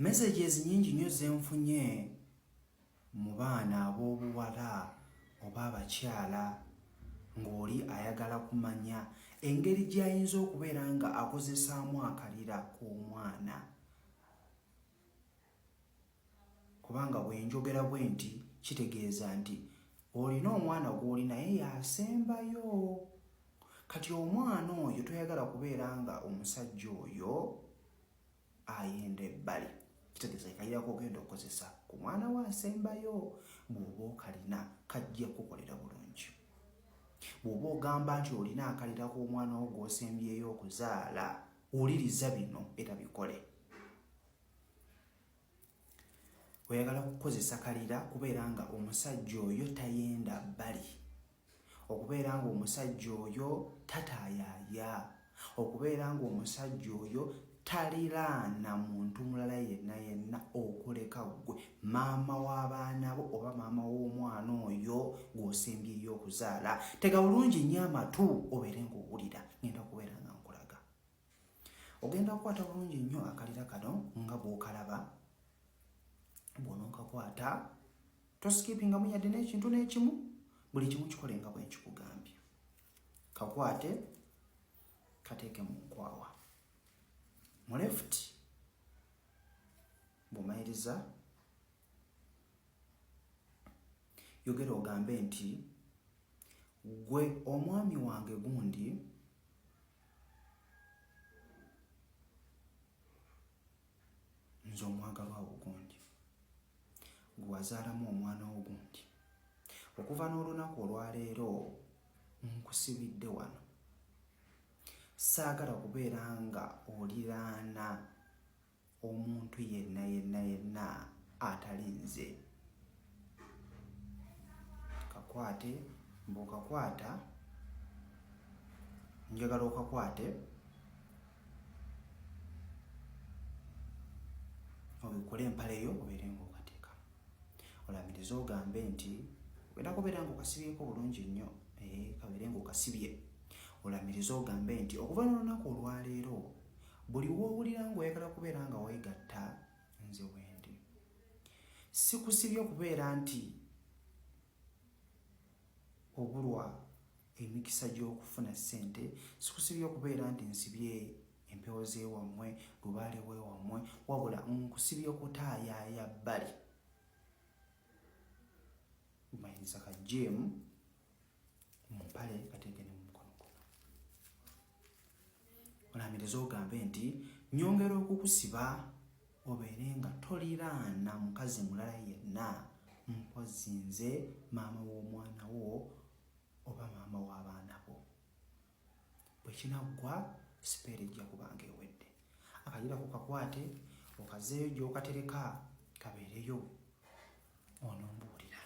Messages nyingi nnyo zenfunye mu baana ab'obuwala oba abakyala ng'oli ayagala kumanya engeri gy'ayinza okubeera nga akozesaamu akalira k'omwana. kubanga bwe njogera bwe nti kitegeeza nti olina omwana gw'oli naye yasembayo kati omwana oyo toyagala kubeera nga omusajja oyo ayenda ebbali kitegeeza ekayirako ogenda okukozesa ku mwana we asembayo bw'oba okalina kajja kukukolera bulungi bw'oba ogamba nti olina akalira ku omwana wo gw'osembyeyo okuzaala wuliriza bino era bikole oyagala kukozesa kalira kubeera nga omusajja oyo tayenda bbali okubeera nga omusajja oyo tataayaaya okubeera nga omusajja oyo taliraana muntu mulala yenna yenna okuleka ggwe maama w'abaana bo oba maama w'omwana oyo gw'osimbyeyo okuzaala tega bulungi nnyo amatu obeere ng'owulira ngenda kubeera nga nkulaga ogenda kukwata bulungi nnyo akalira kano nga bwokalaba bwononkakwata tosikipingamu yadde n'ekintu n'ekimu buli kimu kikole nga bwenkikugambye kakwate kateeke mu nkwawa mu left bwomayiriza yogera ogambe nti gwe omwami wange gundi nze omwagalwa wo gundi gwe wazaalamu omwana wo gundi okuva n'olunaku olwaleero nkusibidde wano saagala kubeera nga oliraana omuntu yenna yenna yenna atali nze kakwate mbukakwata njagala okakwate obikole empale yo obeere ngaokateeka olamiriza ogambe nti ogenda kubeera ngaokasibyeko bulungi nnyo eh, kabeere ngaokasibye olamiriza ogambe nti okuva nolunaku olwaleero Buli w'owulira ng'oyagala kubeera nga weegatta nze wendi. Sikusibye okubeera nti obulwa emikisa gy'okufuna ssente, sikusibye okubeera nti nsibye empewo z'ewammwe, lubaale w'ewammwe, wabula nkusibye okutaayaaya bbali. Mayinza ka jeemu. mu mpale kateeke ne mu mukono guno olamiriza ogambe nti nyongera okukusiba obeere nga toliraana mukazi mulala yenna mpozi nze maama w'omwana wo oba maama w'abaana bo bwe kinaggwa sipeera ejja kubanga ewedde akajira ku kakwate okazeeyo gy'okatereka kabeereyo onombuulira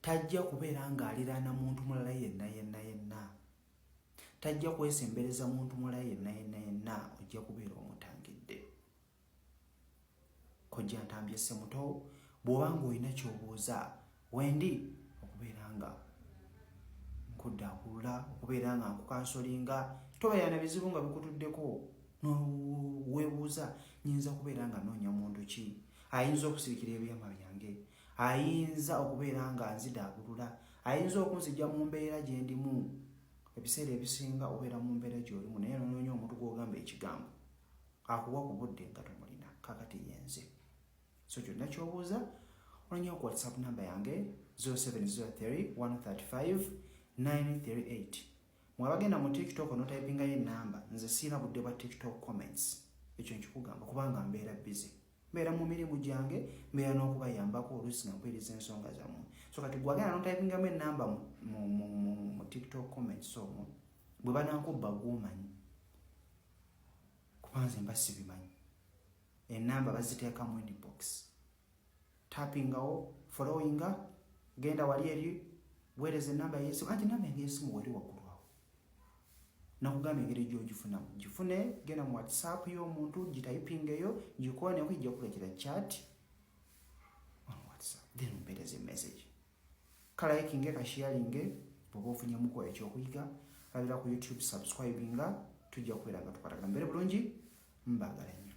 tajja kubeera ng'aliraana muntu mulala yenna yenna yenna tajja kwesembereza muntu mulala yenna yenna yenna ojja kubeera omutangidde kojja ntambye semuto bw'oba ng'olina ky'obuuza wendi okubeera nga nkuddakulula okubeera nga nkukansolinga tobeera na bizibu nga bikutuddeko weebuuza nyinza kubeera nga noonya muntu ki ayinza okusirikira ebyama byange ayinza okubeera nga nzidaabulula ayinza okunzija mu mbeera gye ndimu ebiseera ebisinga obeera mu mbeera gyolimu naye nonoonya omuntu gwogamba ekigambo akuwa ku budde nga tomulina kakati yenze so kyonna kyobuuza ononya ku whatsapp namba yange 0703135938 mwabagenda mu tiktok onotypingayo enamba nze siina budde bwa tiktok comments ekyo nkikugamba kubanga mbeera busy mbeera mu mirimu gyange mbeera n'okubayambako oluusi nga mpuliriza ensonga zammwe so kati gwagenda notaipingamu enamba mu tiktok comments omwo bwe banankubba gwomanyi kuba nze mba sibimanyi enamba baziteekamu inbox tapingawo followinga genda wali eri weereza enamba yesimu anti namba engesimu weri waggulu awo nakugamba engeri gyogifunamu gifune genda mu whatsapp y'omuntu gitayipingeyo gikola naye kujja kuleetera chat on whatsapp then mpeereza emessage kalayikinge kashiyalinge bwoba ofunyemuko ekyokuyiga labira ku youtube subscribinga tujja kubeera nga tukwatagana mbere bulungi mbagala nnyo